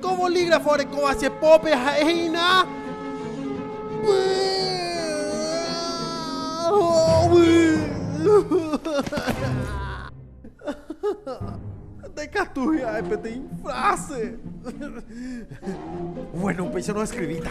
Ko bolígrafo orekóva che pópe ha'e hína ndaikatúi ha'e peteĩ fráse. Buéno, upéicharõ eskrivíta.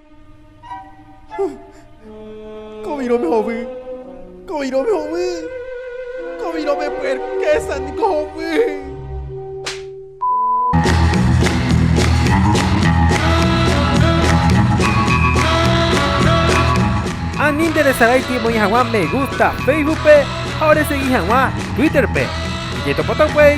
Kovirõme hovy, kovirõme hovy, kovirõme py'arkésa niko hovy. Ani interesarái piko oĩ hag̃ua me gusta Facebookpe ha oresegi hag̃ua Twitterpe. Jetopota upéi.